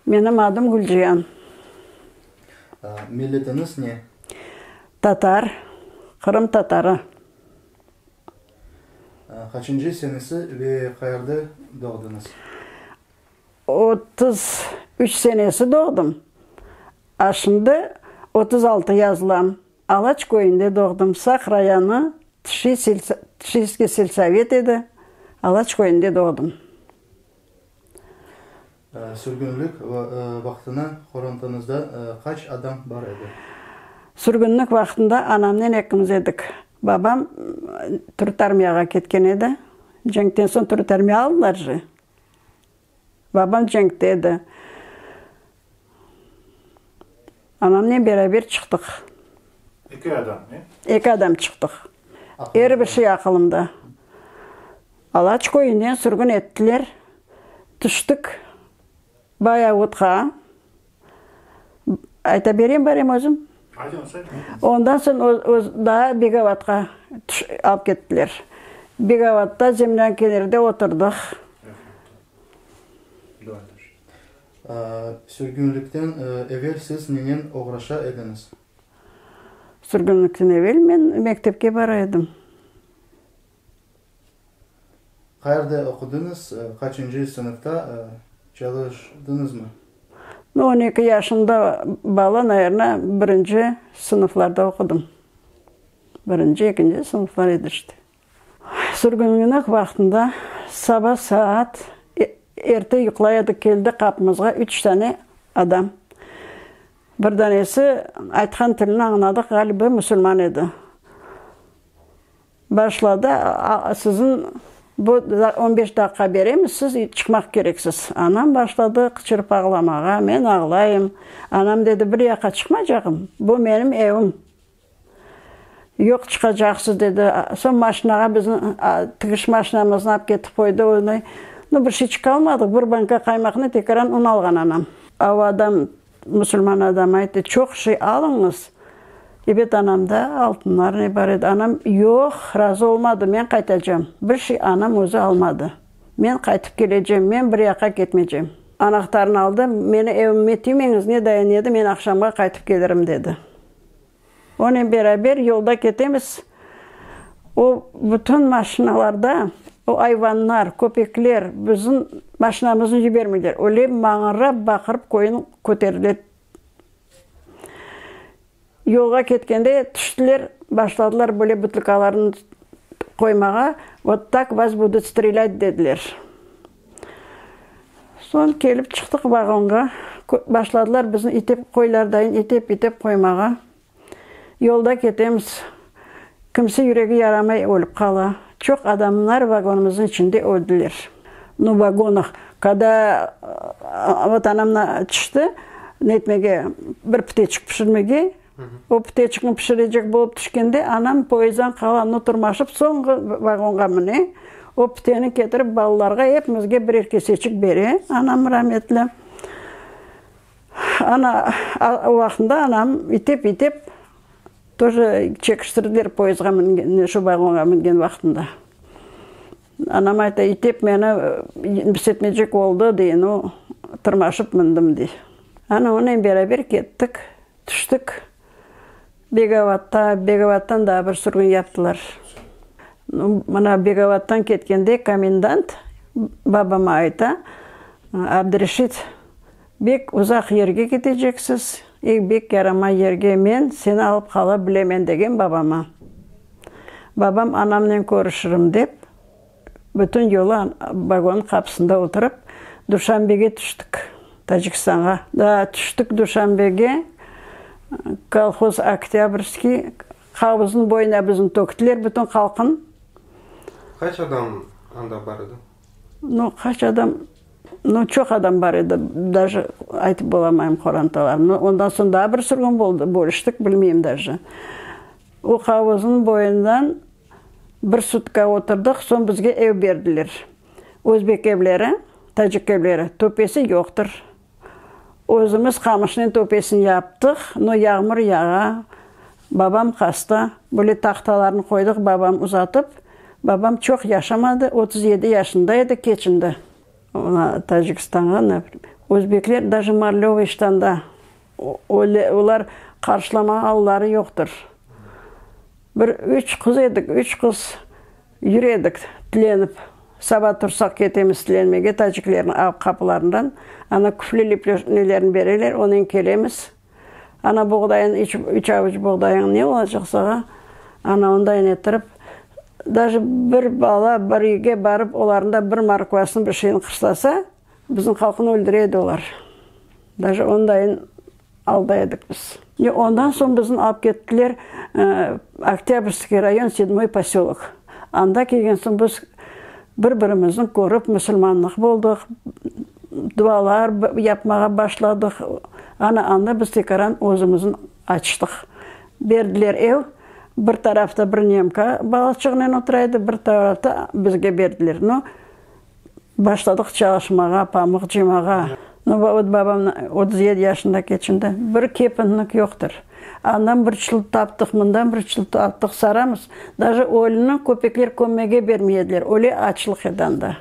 Menim adım Gülciyan. Milletiniz ne? Tatar, Qırım tatarı. Qaçıncı senesi ve qayerde doğdınız? Otuz üç senesi doğdım, a şimdi otuz altı yazılam. Alaç köyünde doğdım. Saq rayonı Tşi selsa, Tşiyskiy selsovet edi. Alaç köyünde doğdım. Sürgünlik va, vaqtına qorantanızda qaç adam bar edi? Sürgünlik vaqtında anamnen ekimiz edik. Babam Türüt armiyağa ketken edi. Cenkten soñ Türüt armiya aldılar jı. Babam cenkte edi. Anamnen beraber çıqtıq. Eki adam, e? Eki adam çıqtıq. Er bir şey aqılımda. Alaç köyünden sürgün ettiler. Tüştik Bayavutqa. Ayta bereyim bari özüm? Aytıñız, aytıñız. Ondan soñ daa Begovatqa alıp kettiler. Begovatta zemlâñ kenarında oturdıq. Sürgünlikten evel siz nenen oğraşa ediñiz? Sürgünlikten evel men mektepke bara edim. Qayerde oqudıñız? Qaçıncı sınıfta? Çalıştıñızmı? On eki yaşında bala, nayerna, birinci sınıflarda oqudım. Birinci, ekinci sınıflar edi işte. Sürgünlügniñ vaqtında saba saat erte yuqlay edik, keldi qapımızğa üç tane adam. Bir danesi aytqan tilini añladıq, ğaliba, musulman edi. Başladı, siziñ bu on beş daqqa beremiz, siz çıqmaq kereksiz. Anam başladı qıçırıp ağlamağa, men ağlayım. Anam dedi, bir yaqqa çıqmaycağım, bu menim evim. Yoq, çıqacaqsız, dedi. Soñ maşinağa biziñ tigiş maşinamıznı alıp ketip qoydı, onı. No, bir şey çıqalmadıq, bir banka qaymaqnı, tekaran un alğan anam. Avadan Musulman adam ayttı, çoq şey alıñız. Ebet, anamda altınlarnıy bar edi. Anam, yoq, razı olmadı, men qaytacam. Bir şey anam özü almadı. Men qaytıp kelecem, men bir yaqqa ketmeycem. Anahtarnı aldı, meni evime tiymeñiz, ne dayan edi, men aqşamğa qaytıp kelirim, dedi. Onen beraber yolda ketemiz. O bütün maşinalarda o ayvanlar, köpekler bizim maşinamıznı yibermeyler. Öyle mağırıp-baqırıp koyun köterile. Yolğa ketkende tüştiler, başladılar böyle butlıkalarnı qoymağa, vot tak vas budut strelât dediler. Soñ kelip çıqtıq vagonğa. Başladılar bizni itip, qoylardayin itip, itip qoymağa. Yolda ketemiz. Kimsi yüregi yaramay ölip qala. Çoq adamlar vagonımıznıñ içinde öldiler. No vagonıq, kada vot anamnı tişti, netmege, bir piteçik pişirmege. O püteçkni pişirecek bolıp tüşkende, anam poezddan qalanını turmaşıp soñğı vagonğa müne. O püteni ketirip balalarğa, epimizge birer keseçik bere, anam rametli. Ana, o vaqtında anam itep-itep to je çekiştirdiler poezdğa müngen, şu vagonğa müngen vaqtında. Anam ayta, itep meni pis etmeycek oldı, dey, nu, tırmaşıp mündim, dey. Ana, onen beraber kettik. Tüştik Begavatqa, Begavattan daa bir sürgün yaptılar. Mına Begavattan ketkende komendant babama ayta, Abdireşit, bek uzaq yerge keteceksiz, e, bek yaramay yerge, men seni alıp qala bilemen, degen babama. Babam anamnen körüşirim dep. Bütün yolu vagonnıñ qapısında oturıp, Duşanbege tüştik, Tacikistanğa. Daa tüştik Duşanbege, kolhoz Oktâbrskiy, qavuzınıñ boyuna bizni töktiler, bütün halqnıñ. Qaç adam anda bar edi? No, qaç adam, no, çoq adam bar edi, daji aytıp bolamayım qorantalarnı. No, ondan soñ daa bir sürgün boldı, bölüştik, bilmeyim daji. O qavuzınıñ boyundan. Bir sutka oturdıq, soñ bizge ev berdiler. Özbek evleri, tacik evleri, töpesi yoqtır. Özümiz qamışnen töpesini yaptıq, no yağmur yağa, babam hasta, böyle tahtalarnı qoydıq, babam uzatıp. Babam çoq yaşamadı, otuz yedi yaşında edi, keçindi. Ona Tacikistanğa ne bileyim, özbekler daje marlevıy ştanda, öyle olar qarşılamağa alları yoqtır. Bir üç qız edik, üç qız yüredik tilenip. Saba tursaq ketemiz tilenmege taciklerniñ av qapılarından. Ana küflü lipleşnelerini bereler, onen kelemiz. Ana buğdayın, üç, üç avuç buğdayıñ ne olacaq sağa? Ana ondayn ettirip, daje bir bala bir üyge barıp, olarnda bir morkvasını, bir şeyni qırslasa, Bizim halqnı öldüre edi olar. Daje ondayın alda edik biz. Ve ondan soñ bizni alıp kettiler Oktâbrskıy rayon, Седьмой poselok. Anda kelgen soñ biz bir birimizni körip, musulmanlıq boldıq, dualar yapmağa başladıq. Ana anda biz tekaran özümüzni açtıq. Berdiler ev, bir tarafta bir nemka balaçığınen otura edi, bir tarafta bizge berdiler. No, Başladıq çalışmağa, pamıq cımağa. Nubavut babam otuz yedi yaşında keçinde, bir kepenlik yoqtır. Andan bir çilt taptıq, mından bir çilt taptıq, saramız. Daje ölüni köpekler kömmege bermey ediler, öyle açlıq edi anda.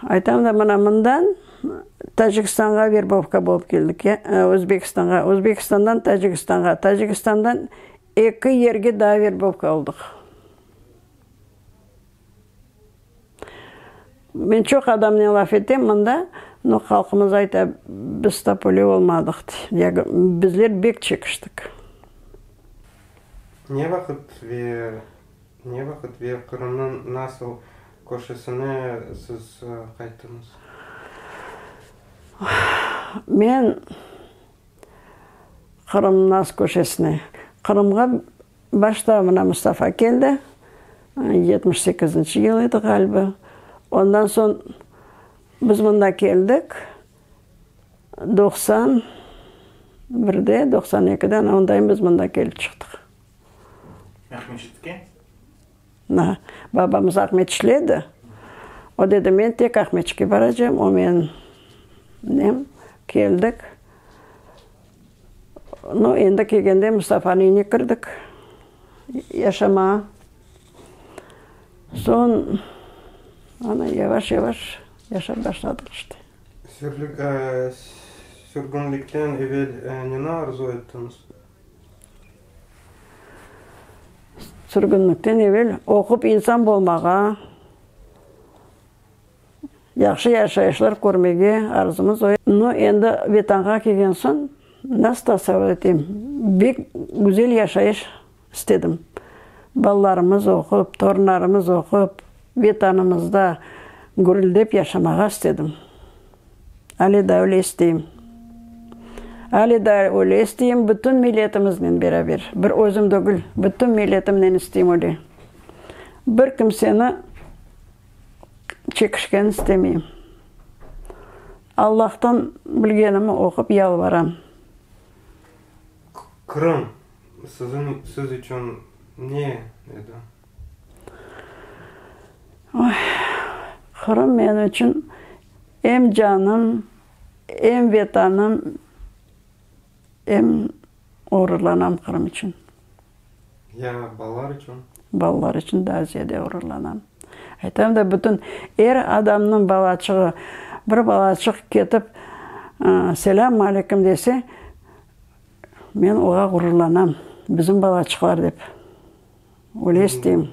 Aytam da, mına mından Tacikistanğa verbovka bolıp keldik, ya Özbekistanğa, Özbekistandan Tacikistanğa, Tacikistandan eki yerge daa verbovka oldıq. Men çoq adamnen laf etem mında, no halqımız ayta, biz topoli olmadıq, dey. Bizler bek çekiştik. Ne vaqıt ve ne vaqıt ve Qırımnıñ nasıl körşisine siz qayttıñız? Men Qırımnıñ nasıl körşisine? Qırımğa Başta mına Mustafa keldi, yetmiş sekizinci yıl edi ğaliba. Ondan soñ biz mında keldik, doqsan birde, doqsan ekide, ana ondayım biz mında kelip çıqtıq. Aqmescitke? Na, babamız Ahmet işledi. O dedi, men tek Ahmetçike baracağım. O men nem keldik. Nu, endi kelgende Mustafanıñ evine kirdik yaşamağa. Soñ, ana, yavaş-yavaş yaşap başladıq işte. Sürgünlikten evel ne arzu ettiñiz? Sürgünlikten evel oqup insan bolmağa, yahşı yaşayışlar körmege arzumız oy. No, endi Vetanğa kelgen soñ, nasıl tasavur eteyim, bek güzel yaşayış istedim. Balalarımız oqup, torunlarımız oqup, Vetanımızda gürüldep yaşamağa istedim. Ale daa öyle isteyim. Ale daa öyle isteyim, bütün milletimiznen beraber. Bir özüm degil, bütün milletimnen isteyim öyle. Bir kimseni çekişken istemeyim. Allahtan bilgenimi oqup yalvaram. Qırım, siziñ, siz içün ne edi? Qırım men içün em canım, em Vetanım, em ğururlanam Qırım içün. Ya balalar içün? Balalar içün daa ziyade ğururlanam. Aytam da, bütün er adamnıñ balaçığı, bir balaçıq ketip, selâm aleykum dese, men oğa ğururlanam, bizim balaçıqlar dep. Ulestim.